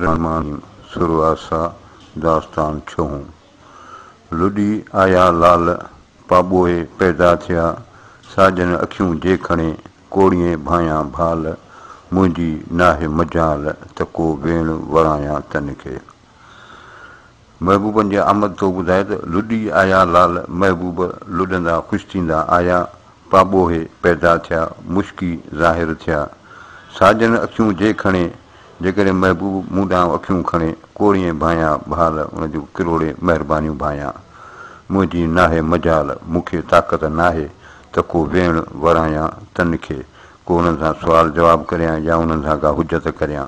Rehman sir آسا داستان ڇهون. لڏي آيا لال پاٻوهي پيدا ٿيا ساڄن اکيون جي کڻي ڪوڙيين ڀانيان ڀال منهنجي ناهي مجال ته ڪو ويڻ ورايان تن کي. محبوبن جي آمد ٿو ٻڌائي ته لڏي آيا لال محبوب لڏندا خوش ٿيندا آيا پاٻوهي پيدا ٿيا مشڪي ظاهر ٿيا ساجن اکيون جي کڻي جيڪڏهن محبوب مون ڏانهن اکيون کڻي ڪوڙيئي ڀانيا ڀال ان جون ڪروڙي مهربانيون ڀانيا منهنجي ناهي مجال مون کي طاقت ناهي ته ڪو ويڻ ورايان تن کي ڪو انهن سان سوال جواب ڪريان يا انهن سان ڪا حجت ڪريان.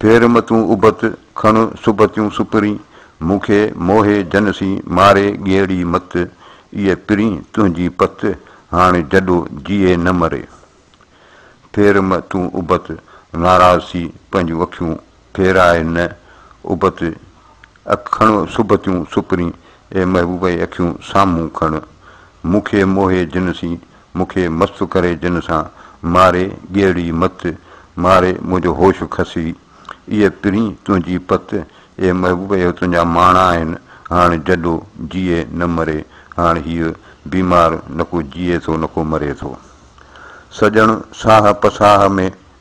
ڦير متون ابت، کڻ سبتيون سپرين، مون کي موهي جن سين، ماري ڳيئڙي مت، ايء پرين تنهنجي پت، هاڻ جڏو جيئي نه مري. ڦير متون ابت، ناراض ٿي پنهنجون اکيون ڦيرائي نه ابت، اک کڻ سبتيون سپرين، اي محبوبه اکيون سامهون کڻ، مون کي موهي جن سين، مون کي مست ڪري جن سان ماري ڳيڙي مت ماري منهنجو هوش کسي اي پرين تنهنجي پت اي محبوب اهي تنهنجا ماڻا آهن هاڻ جڏو جيئي نه مري هاڻ هيء بيمار نڪو جيئي ٿو نڪو مري ٿو سڄڻ ساهه پساهه ۾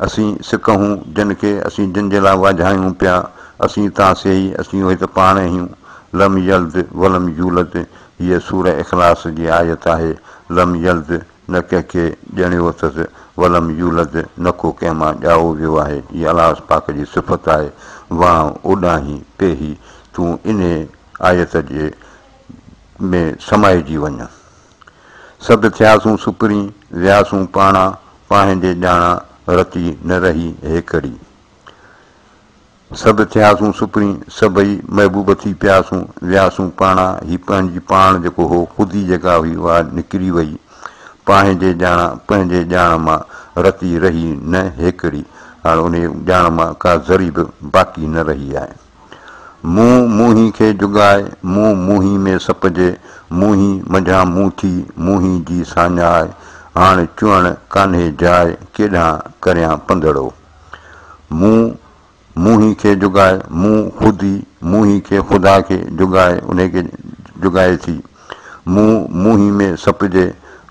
اسين سڪ هون جن کي، اسين جن جي لاء واجهايون پيا، اسين تان سيئي، اسين اهي ته پاڻ اهيون. لم يلد ولم يولد هيء سورة اخلاص جي آيت آهي. لم يلد نه ڪنهن کي ڄڻيو اٿس، ولم يولد نه ڪو ڪنهن مان ڄائو ويو آهي، هيء الله پاڪ جي صفت آهي. وانء اوڏانهين پيهي تون انهيء آيت جي ۾ سمائجي وڃ. سڀ ٿياسون سپرين، وياسون پاڻا، پانهنجي ڄاڻا رتي نه رهي هيڪڙي. سڀ ٿياسون سپرين، سڀئي محبوب ٿي پياسون، وياسون پاڻا، هي پنهنجي پاڻ جيڪو هو، خود ئي جيڪا هئي اها نڪري وئي، پانهنجي ڄاڻا، پنهنجي ڄاڻ مان رتي رهي نه هيڪڙي، هاڻ انهيء ڄاڻ مان ڪا ذري به باقي نه رهي آهي. مون موهين کي جڳائي، مون موهين ۾ سپجي، موهين منجهان مون ٿي، موهين جي ساڃاء، هاڻ چوڻ ڪانهي جاء، ڪيڏانهن ڪريان پنڌڙو. مون موهين کي جڳائي، مون خود ئي موهين کي خدا کي جڳائي، انهي کي جڳائي ٿي. مون موهين ۾ سپجي،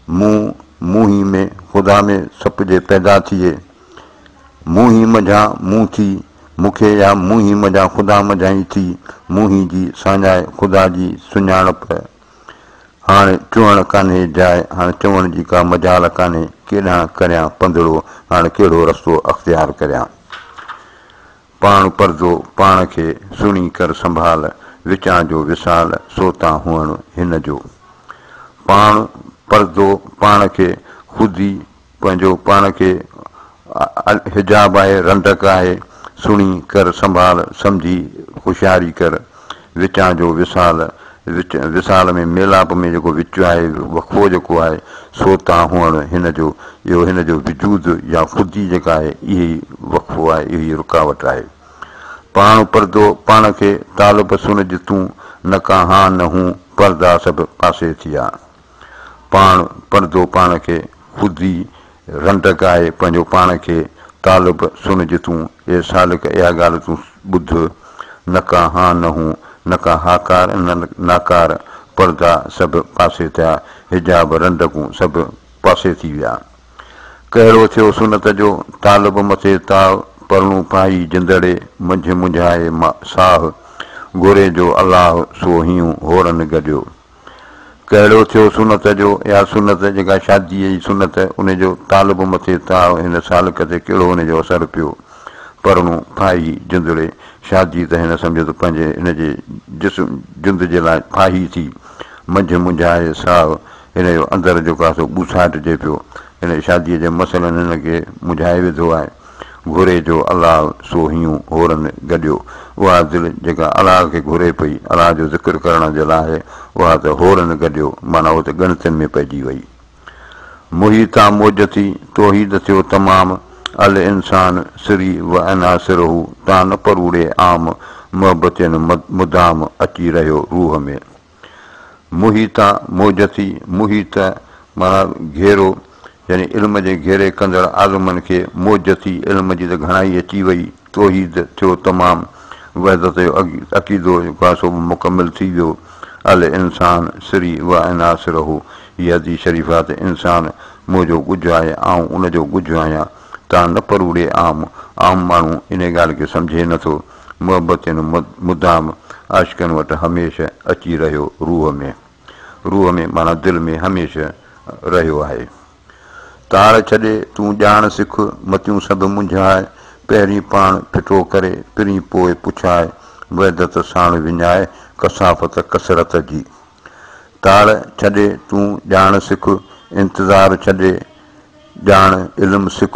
مون موهين ۾ خدا ۾ سپجي پيدا ٿئي. مون هي مجهان مون ٿي مون کي يا مون هي مجهان خدا مجهان ئي ٿي مون هي جي ساڃاء خدا جي سڃاڻپ هاڻ چوڻ ڪانهي جاء هاڻ چوڻ جي ڪا مجال ڪانهي ڪيڏانهن ڪريان پنڌڙو هاڻ ڪهڙو رستو اختيار ڪريان پاڻ پرزو پاڻ کي سهڻي ڪر سنڀال وچان جو وصال سو تان هئڻ هن جو پاڻ پرزو پاڻ کي خود ئي پنهنجو پاڻ کي حجاب آهي رنڊڪ آهي سڻي ڪر سنڀال سمجهي هوشياري ڪر وچان جو وصال وچ وصال ۾ ميلاپ ۾ جيڪو وچ آهي وقفو جيڪو آهي سو تان هئڻ هن جو اهو هن جو وجود يا خودي جيڪا آهي اهي ئي وقفو آهي اهي ئي رڪاوٽ آهي پاڻ پردو پاڻ کي طالب سنج تون نه ڪا هان نه هون پردا سڀ پاسي ٿيا. پاڻ پڙهندو پاڻ کي خود ئي رنڊڪ آهي پنهنجو پاڻ کي طالب سن جي تون اي سالڪ اها ڳالهه تون ٻڌ نه ڪا هان نه هون نه ڪا هاڪار نه ناڪار پردا سڀ پاسي ٿيا حجاب رنڊڪون سڀ پاسي ٿي ويا ڪهڙو ٿيو سنت جو طالب مٿي تاء پرڻو پائي جندڙي منجهه منجهائي ساهه گهري جو الله سو هيون هورن گڏيو. ڪهڙو ٿيو سنت جو يا سنت جيڪا شاديء جي سنت ان جو طالب مٿي تاء هن سالڪ تي ڪهڙو ان جو اثر پيو پرڻو ڦاهي جندڙي شادي ته هن سمجهيو ته پنهنجي هن جي جسم جند جي لاء ڦاهي ٿي منجهه منجهائي ساهه هن جو اندر جو ڪاسو ٻوساٽجي پيو هن شاديء جي مسئلن هن کي منجهائي وڌو آهي گهري جو الله سو هيون هورن گڏيو. اها دل جيڪا الله کي گهري پئي، الله جو ذڪر ڪرڻ جي لاء، اها ته هورن گڏيو، معنيٰ هوء ته ڳڻتين ۾ پئجي وئي. موهي تان موج ٿي، توحيد ٿيو تمام، الانسان سري و عناصره تان نه پروڙي عام، محبتين مدام اچي رهيو روح ۾. محيطا موجتي محيط معنيٰ گهيرو يعني علم جي گهيري ڪندڙ عالمن کي موجتي علم جي ته گهڻائي اچي وئي توحيد ٿيو تمام وحدت جو عقيدو جيڪو آهي سو به مڪمل ٿي ويو الانسان سري وانا سره هي حديث شريف آهي ته انسان منهنجو ڳجهه آهي آئون ان جو ڳجهه آهيان تان نه پروڙي عام عام ماڻهو انهي ڳالهه کي سمجهي نٿو محبت هن مدام عاشقن وٽ هميشه اچي رهيو روح ۾، روح ۾ معنيٰ دل ۾ هميشه رهيو آهي. تاڙ ڇڏي تون ڄاڻ سک، متيون سڀ منجهاء، پهرين پاڻ ڦٽو ڪري، پرين پوء پڇاء، وحدت ساڻ وڃاء، ڪثافت ڪثرت جي. تاڙ ڇڏي تون ڄاڻ سک، انتظار ڇڏي ڄاڻ علم سک،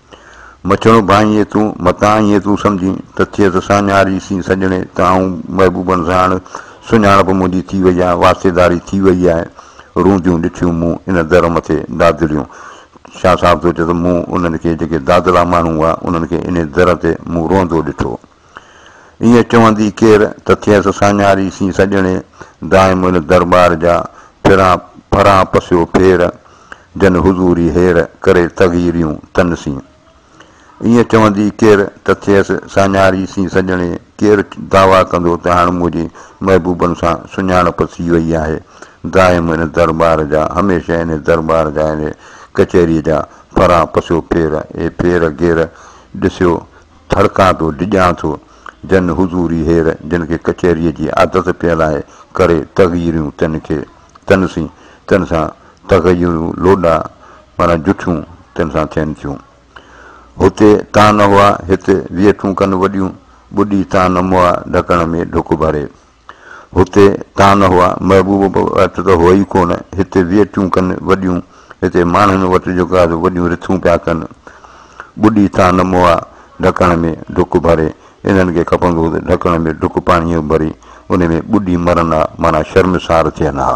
مڇڻو ڀانء ائين تون، متان ائين تون سمجهين، ته ٿئيس ساڃهاري سين سڄڻي، ته آئون محبوبن ساڻ، سڃاڻپ منهنجي ٿي وئي آهي، واسطيداري ٿي وئي آهي، رونديون ڏٺيون مون ان در مٿي دادليون. شاهه صاحب ٿو چئي ته مون انهن کي جيڪي دادلا ماڻهو هئا، انهن کي انهي در تي مون روئندو ڏٺو. ائين چوندي ڪير ته ٿئيس ساڃاري سين سڄڻي، دائم ان درٻار جا ڦران ڦران پسيو ڦير، جن حضوري هير، ڪري تغيريون تن سين. ائين چوندي ڪير ته ٿئيس ساڃاري سين سڄڻي، ڪير دعويٰ ڪندو ته هاڻ منهنجي محبوبن سان سڃاڻپ ٿي وئي آهي، دائم ان درٻار جا، هميشه ان درٻار جا ان ڪچهريء جا ڦران پسيو ڦير، اهي ڦير گهير ڏسيو ڌڙڪان ٿو ڊڄان ٿو جن حضوري هير جن کي ڪچهريء جي عادت پيل آهي ڪري تغيريون تن کي تن سين تن سان تغيرون لوڏا معنيٰ جٺيون تن سان ٿين ٿيون هتي تان هئا هت ويٺون ڪن وڏيون ٻڏي تان موئا ڍڪڻ ۾ ڍڪ ڀري هتي تان هئا، محبوب به اٽ ته هو ئي ڪونه، هتي ويٽيون ڪن وڏيون، هتي ماڻهن وٽ جيڪو آهي سو وڏيون رٿون پيا ڪن. ٻڏي تان مئا ڍڪڻ ۾ ڍڪ ڀري، انهن کي کپندو هو ته ڍڪڻ ۾ ڍڪ پاڻيء جو ڀري، ان ۾ ٻڏي مرن ها، معنيٰ شرمسار ٿين ها.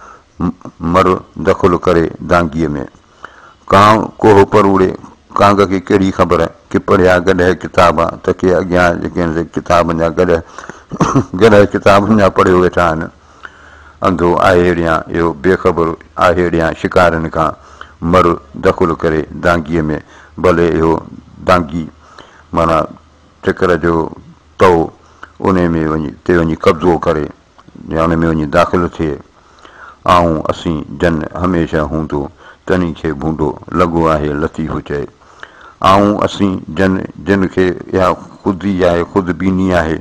مر دخل ڪري دانگيء ۾. ڪانء ڪوهه پروڙي ڪانگ کي ڪهڙي خبر ڪي پڙهيا گڏهه ڪتاب ته ڪي اڳيان جيڪي هن جي ڪتابن جا گڏهه گڏهه ڪتابن جا پڙهيو ويٺا آهن. انڌو آهيڙيان اهو بي خبر آهيڙيان شڪارين کان مر دخل ڪري دانگيء ۾. ڀلي اهو دانگي معنيٰ ٽڪر جو تئو انهي ۾ وڃي تي وڃي قبضو ڪري. جان ۾ وڃي داخل ٿئي. آئون اسين جن هميشه هوندو تنهن کي ڀونڊو لڳو آهي لطيف چئي. آئون اسين جن جن کي اها خود ئي آهي خود بيني آهي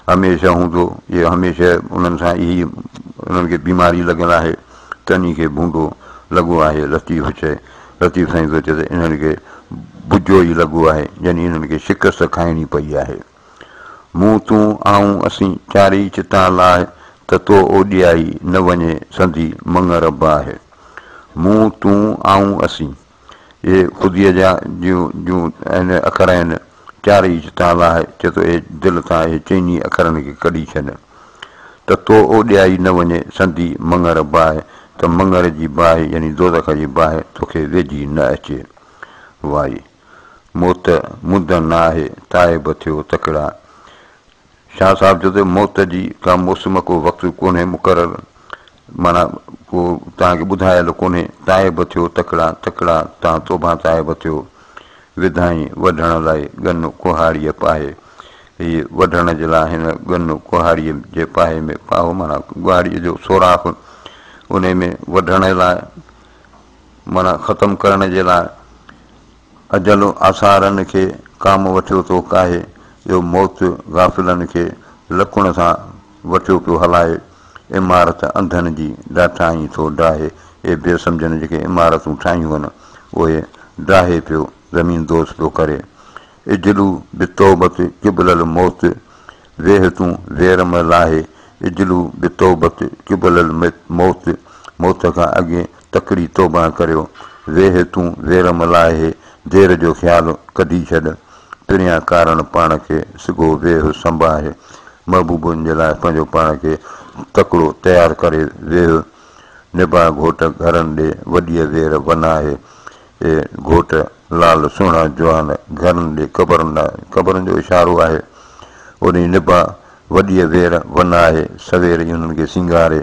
هميشه هوندو جي هميشه انهن سان اهي انهن کي بيماري لڳل آهي تنهن کي ڀونڊو لڳو آهي لطيف چئي. لطيف سائين ٿو چئي ته انهن کي بجو ئي لڳو آهي يعني انهن کي شڪست کائڻي پئي آهي. مون تون آئون اسين چارئي چتان لاهه ته تو اوڏيائي نه وڃي سندي مڱ رب آهي مون تون آئون اسين اهي خوديء جا جون جون اهن اکر آهن چارئي چتان لاهه چي تو اهي دل تان اهي چئني اکرن کي ڪڍي ڇڏ ته تو اوڏيائي نه وڃي سندي مڱ رب آهي ته مڱر جي باهه يعني دوزخ جي باهه توکي ويجهي نه اچي واهي موت مدن نه آهي، تائب ٿيو تڪڙا. شاهه صاحب چيو ته موت جي ڪا موسم ڪو وقت ڪونهي مقرر معنيٰ ڪو توهان کي ٻڌايل ڪونهي، تائب ٿيو تڪڙا، تڪڙا تان توبان تائب ٿيو. وڌائين وڍڻ لاء ڳن ڪهاڙيء پاهي. هي وڍڻ جي لاء هن ڳن ڪهاڙيء جي پاهي ۾ پاهو معنيٰ ڳهاڙيء جو سوراخ انهي ۾ وڍڻ لاء. معنيٰ ختم ڪرڻ جي لاء اجل آثارن کي ڪام وٺيو ٿو ڪاهي جو موت غافلن کي لڪڻ سان وٺيو پيو هلائي عمارت انڌن جي ڊاٺائين ٿو ڊاهي اهي بي سمجهن جيڪي عمارتون ٺاهيون هن اهي ڊاهي پيو زمين دوز پيو ڪري اجلو بتوبت قبل الموت ويهه تون وير م لاهي اجلو بتوبت قبل الموت موت کان اڳي تڪڙي توبه ڪريو ويهه تون وير م لاهي دير جو خيال ڪڍي ڇڏ پريان ڪارڻ پاڻ کي سگهو ويهه سنباهي محبوبن جي لاء پنهنجو پاڻ کي تڪڙو تيار ڪري ويهه نباهه گهوٽ گهرن ڏي وڏيء وير وناهي اي گهوٽ لال سهڻا جوان گهرن ڏي قبر نه قبرن جو اشارو آهي اوڏي نبا وڏيء وير ون آهي سوير ئي انهن کي سينگاري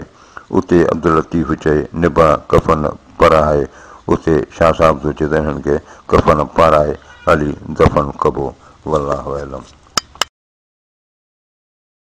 اتي عبداللطيف چئي نبا ڪفن پرهائي اتي شاهه صاحب ٿو چئي ته انهن کي ڪفن پارائي علي دفن ڪبو والله اعلم.